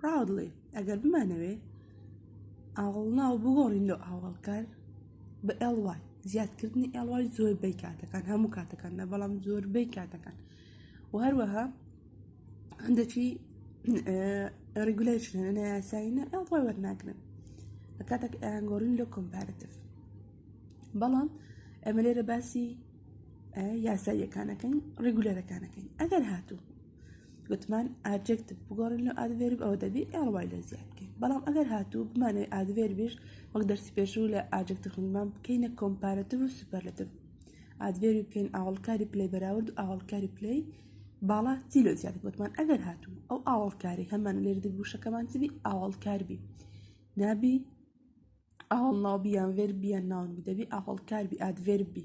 Proudly، ئەگەر بمانەوێت ئاوەڵناو بگۆڕین لۆ ئاوەڵکەر بە ly زیادکردنی ly زۆربەی کاتەکان هەموو کاتەکان نە بەڵام زۆربەی کاتەکان و هەروەها هەندێکی ڕیگولەیشن هەنە یاسایینە ly وەرناگرن لە کاتێک ئەیانگۆڕین لۆ کۆمپارتف بەڵام ئەمە لێرە باسی یاساییەکانەکەین ڕیگولەرەکانەکەین ئەگەر هاتوو گوتمان ئاجێکتیڤ بگۆڕین لە ئادڤێرب ئەوە دەبی ئێڵوای لە زیاد بکەین بەڵام ئەگەر هاتوو بمانەوەی ئادڤێربیش وەک دەرسی پێشوو لە ئاجێکتیڤ خودمان بکەینە کۆمپارەتیڤ و سوپەرلەتیڤ ئادڤێربی بکەین ئاوەڵکاری پلەی بەراورد و ئاوەڵکاری پلەی باڵا چی لە زیاد گوتمان ئەگەر هاتوو ئەو ئاوەڵکاری هەمان لێر دی وشەکەمان چبی ئاوەڵکار بی نابی ئاوەڵ ناوبیان ڤێربیان ناون دەبی ئاوەڵکار بی ئادڤێربی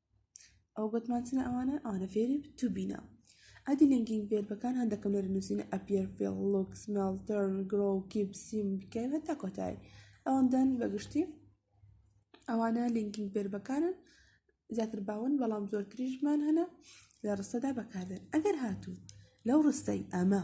ئەو بەتمانچنە ئەوانە ئەوانە فێری تو بینە ئەدی لینکینگ بێربەکان هەندەکەم لێرە نووسینە ئەپیەر فێڵ لۆکس مێڵ تەرن گرۆ کیپ سیم بکەن هەتا کۆتایی ئەوەندەن بەگشتی ئەوانە لینکینگ بێربەکانن زیاتر باون بەڵام زۆرتریشمان هەنا لە ڕستەدا بەکاردێن ئەگەر هاتوو لەو ڕستەی ئەمە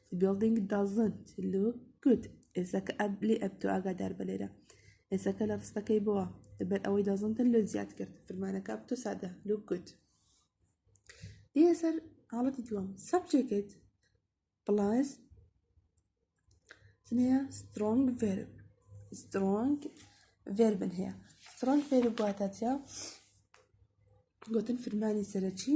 The building doesn't look good. ئێسەکە ئەب لێ ئەبتۆ ئاگادار بە لێرە. ئێسەکە لە ڕستەکەی بووە لەبەر ئەوەی دەزنتە لۆ زیاد کرد فرمانەکە ئەبتۆ سادە look good. دی ئەسەر حاڵەتی دووەم subject plus سنەیە strong verb strong verb هەیە strong verb واتە چیا گوتن فرمانی سەرەکی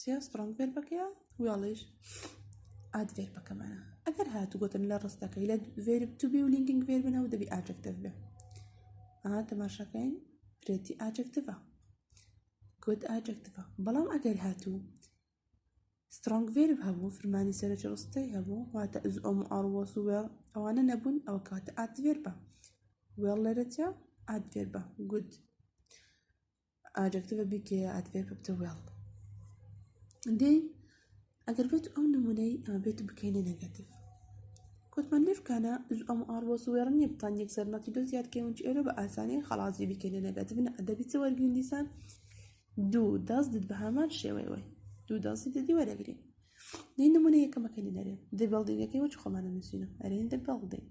چیا سترۆنگ فێر بەکەیە ویاڵیش ئاد فێر بەکەمانە ئەگەر هاتو گوتن لە ڕستەکەی لە فێر توبی و لینکینگ فێر بنە و دەبی ئاجەکتەف بێ ئا تەماشاکەین پرێتی ئاجەکتفە گوت ئاجەکتفە بەڵام ئەگەر هاتو سترۆنگ فێر هەبوو فرمانی سەرەکی ڕستەی هەبوو واتە ئەز ئۆم ئاڕوەس و وێڵ ئەوانە نەبوون ئەوە کاتە ئات فێر بە وێڵ لەرەجە ئات فێر بە گوت ئاجکتڤە بیکەیە ئەدڤێربە بتە وێڵ دەی ئەگەر بێت ئەو نمونەی ئەمە بێت بکەینە نەگەتیڤ کوتمان لێفکانە ئەم ئاڕۆس وێڕ نیە بتان یەک سەرمەتی دو زیاد کەون ئێرە بە ئاسانی خەڵازی بکەینە نەگەتیڤ ئەدەبی چ وەرگین دیسان دوو دەست دت بە هەمان شێوەی وای دوو دەستی دەدی وەرەگرین دی نمونە یەکەمەکەی نەرێ دی بەڵدینگەکەی وەچ خۆمانە نووسینە ئەرێن دە بەڵدێک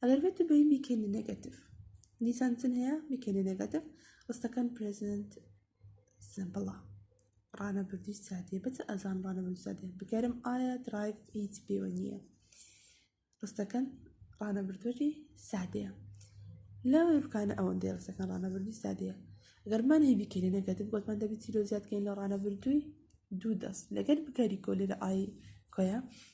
ئەلەرڤێتە بەین بیکەینە نێگەتیڤ دیسان چن هەیە بیکەینە نێگەتیڤ ڕستەکان پرێزنت سمپڵە ڕانەبردی سادیە بەچ ئەزان ڕانەبردی سادیە بگەرم ئایا درایڤ هیچ پێوە نییە ڕستەکان ڕانەبردوەری سادەیە لە ڕکانە ئەوەندەی ڕستەکان ڕانەبردی سادەیە گەرمان هەیە بیکەینە نێگەتیڤ گوتمان دەبێت چیرۆ زیادکەین لە ڕانەبردووی دوو دەست لەگەر بکاری کۆ لێرە ئای کۆیە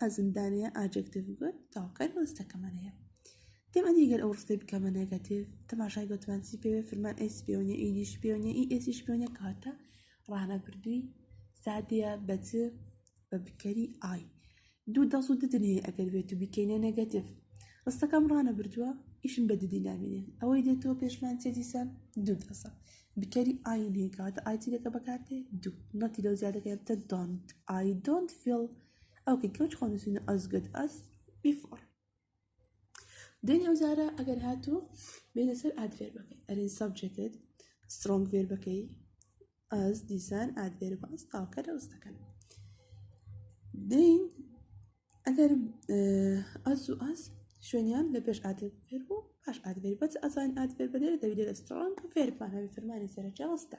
ئەزمدانێ ئاجێکتیڤ گوت تاوکەر ڕستەکەمان هەیە دێم ئەدی گەر ئەو ڕستەی بکەمە نێگەتیڤ تەماشای گۆتمانسی پێ فرمان ئەس پێونیە ئیدیش پێونیە ئی ئێسیش پێونە کاتە ڕانە بردووی سادەیە بەچ بە بکەری ئای دوو دەس و ددنێ ئەگەر بێت و بیکەینە نێگەتیڤ ڕستەکەم ڕانە بردووە ئیشم بە ددی نامێنێ ئەوەی دێتەوە پێشمان چێ دیسان دوو دەسە بکەری ئای نێگاتە ئایتی دەکە بەکاتێ دوو نەتی لەو زیادەکە تە دۆنت ئای دۆنت فیل ئۆکەی کەوچ خۆ نووسینە ئەز گەد ئەز بیفۆر دێنی ئەو زارە ئەگەر هاتوو بێنە سەر ئادفێر بەکەی ئەرین سەبجێکت سترۆنگ فێر بەکەی ئەز دیسان ئادفێر بە ئەس تاوکە دەوز دەکەن دین ئەگەر ئەز و ئەس شوێنیان لە پێش ئادێت فێر بوو پاش ئادێت بەس ئەزان ئادێت بەدێت دەبێت لە سترۆنگ فێرپان هەبێت فەرمانی سەرەکی ڕستە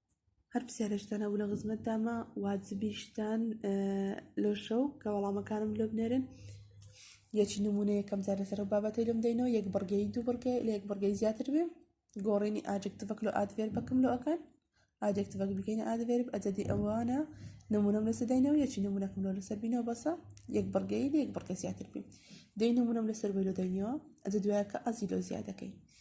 هەر پرسیارێکتان هەبوو لە خزمەتدامە واجبیشتان لۆ شەو کە وەڵامەکانم لۆ بنێرن یەکی نمونە یەکەم جارە سەر بابەتی لەم دەینەوە یەک بڕگەی دوو بڕگەی لە یەک بڕگەی زیاتر بێ گۆڕینی ئاجکتڤک لۆ ئادێر بەکەم لۆ ئەکەن ئاجکتڤک بکەینە ئادێر ئەجدی ئەوانە نمونەم لەسەر دەینەوە یەکی نمونەکەم لۆ لەسەر بینەوە بەسە یەک بڕگەی لە یەک بڕگە زیاتر بین دەی نمونەم لەسەر بەلۆ دەینەوە ئەجە دوایەکە ئەزی لۆ زیادەکەی